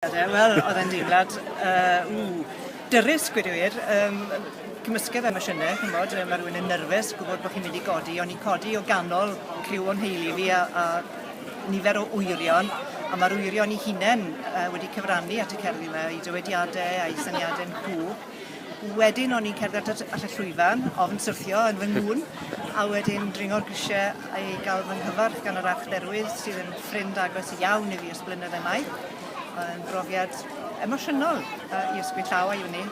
Wel, oedd e'n deimlad, uh, ww, dyrus, gwed i wir. Um, cymysgedd emosiynau, chi'n bod, mae rhywun yn nyrfus, gwybod bod chi'n mynd i godi, ond i'n codi o ganol criw o'n heili fi a, a nifer o wyrion, a mae'r wyrion i hunain uh, wedi cyfrannu at y cerddi yma, i dywediadau a'i syniadau'n cw. Wedyn o'n i'n cerdded at y at y llwyfan, ofn syrthio yn fy ngŵn, a wedyn dringo'r grisiau a i gael fy nghyfarch gan yr Archdderwydd sydd yn ffrind agos iawn i fi ers blynyddau maith. Oedd yn brofiad emosiynol yy i ysgwyd llaw a uni.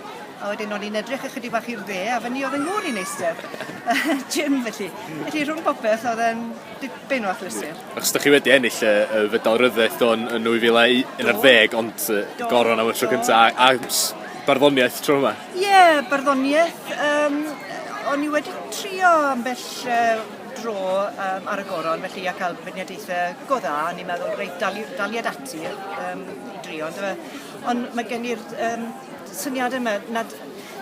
A wedyn o'n i'n edrych ychydig bach i'r dde a fyny oedd yng ngŵr i'n eistedd. Jim felly. Felly rhwng popeth oedd e'n dipyn o achlysur. Achos da chi wedi ennill y, y fedal ryddaeth o'n yn 2011 ond uh, goron am y tro cyntaf a, a barddoniaeth tro yma? Ie, yeah, barddoniaeth. Um, o'n i wedi trio ambell uh, dro um, ar y goron, felly a cael beirniadaethau go dda, a ni'n meddwl, reit, daliad ati um, i drio. Ond mae gen i'r um, syniad yma nad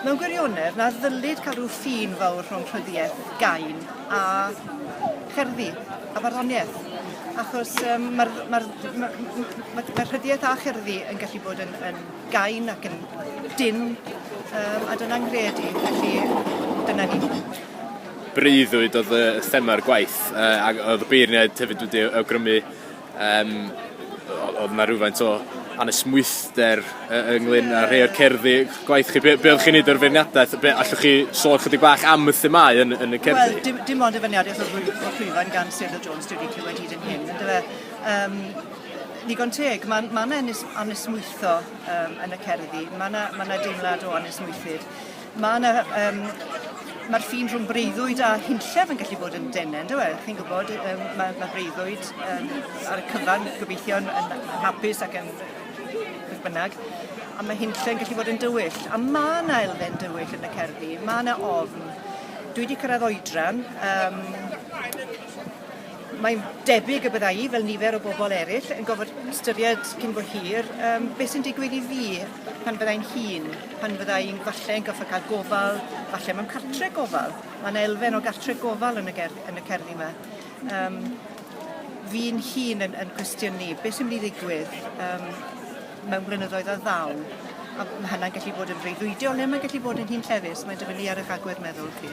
mewn gwirionedd na ddylid cael rhyw ffin fawr rhwng rhyddiaeth gain a cherddi a farddoniaeth. Achos um, mae'r ma ma, ma, ma rhyddiaeth a cherddi yn gallu bod yn, yn gain ac yn dynn yym a dyna'n nghred i felly dyna ni. breuddwyd oedd y thema'r gwaith yy ac oedd y beirniaid hefyd wedi awgrymu yym oedd yna rhywfaint o anesmwythder yy ynglyn â rhai o'r cerddi gwaith chi be' be' oddach chi'n neud o'r feirniadaeth be' allwch chi sôn chydig bach am y themâu yn yn y cerddi? Wel dim dim ond y feirniadaeth o'r llwyfan gan Sir Hill Jones dwi wedi clywed hyd yn hyn yndyfe? Yym Digon teg, mae ma 'na anes- anesmwytho um, yn y cerddi, mae yna ma na deimlad o anesmwythyd. Mae yna um, mae'r ffin rhwng breuddwyd a hunllef yn gallu bod yn denen, dwi e? Chi'n gwybod, um, mae, mae breuddwyd um, ar y cyfan gobeithio yn, yn hapus ac yn beth bynnag, a mae hunllef yn gallu bod yn dywyll. A mae yna elfen dywyll yn y cerddi, mae yna ofn. Dwi wedi cyrraedd oedran, um, Mae'n debyg y bydda i, fel nifer o bobl eraill, yn gofod ystyried cyn bo hir um, beth sy'n digwydd i fi pan fydda i'n hun, pan fydda i'n falle yn goffa cael gofal, falle mewn cartre gofal. Mae yna elfen o gartre gofal yn y, ger, yn y cerddi yma. Um, fi'n hun yn, yn cwestiynu beth sy'n mynd i ddigwydd um, mewn blynyddoedd a ddaw. A mae hynna'n gallu bod yn freuddwydiol neu mae'n gallu bod yn hun llefus. Mae'n dyfynnu ar eich agwedd meddwl chi.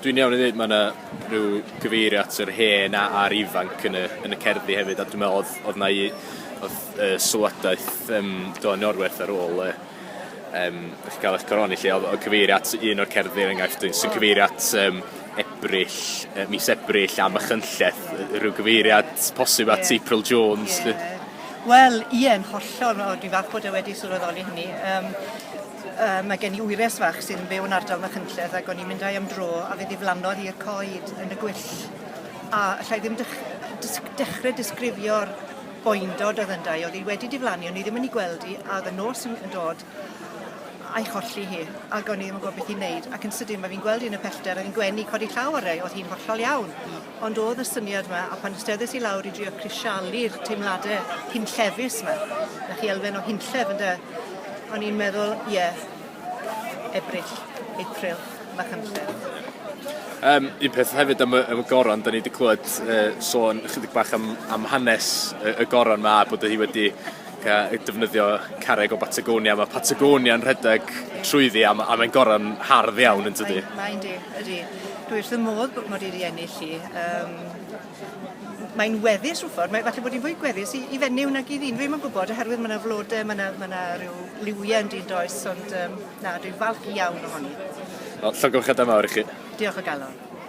Dwi'n iawn i ddweud mae yna rhyw gyfeirio at yr hen a- a'r ifanc yn y yn y cerddi hefyd a dwi me'wl odd odd 'na u- odd yy sylwadaeth yym do yn Iorwerth ar ôl yy yym dych chi ga'l 'ych coroni 'lly odd o cyfeirio at un o'r cerddi er enghraifft yy sy'n cyfeirio at yym Ebrill yy mis Ebrill a Machynlleth yy rhyw gyfeiriad posib at... Ie. ...April Jones 'lly. Ie. Wel ie yn hollol o dwi falch bod e wedi sylweddoli hynny yym Uh, mae gen i wyres fach sy'n byw yn ardal Machynlleth ac o'n i'n mynd â'i am dro a fe ddiflannodd i'r coed yn y gwyll. A allai ddim dech, dys, dechrau disgrifio'r boendod oedd ynddo oedd hi wedi diflannu, o'n i ddim yn ei gweld hi a oedd y nos yn, yn dod a'i cholli hi ac o'n i ddim yn gwybod beth i'n neud ac yn sydyn mae fi'n gweld un y pellter oedd hi'n gwenu codi llaw ar ei oedd hi'n hollol iawn Ond o'dd y syniad 'ma a phan steddes i lawr i drio crisialu'r teimlade hunllefus 'ma, dach chi elfen o hunllef ynde, o'n i'n meddwl ie, Ebrill, April, Machynlleth. Yym un peth hefyd am y am y goron 'dan ni 'di clwed yy sôn ychydig bach am am hanes y y goron 'ma a bod o hi wedi ac a defnyddio carreg o Batagonia. Mae Patagonia yn rhedeg trwyddi a, a mae'n goron hardd iawn yn tydi? Mae'n di, ydy. Dwi wrth y modd bod mod i wedi ennill hi. Um, mae'n weddus rhyw ffordd, mae falle bod hi'n fwy gweddus i, i fenyw nag i ddyn, dwi'n yn gwybod, oherwydd mae yna flodau, mae yna, mae yna rhyw liwiau yn dyn does, ond um, na, dwi'n falch iawn ohoni. Wel, llongyfchadau mawr i chi. Diolch o galon.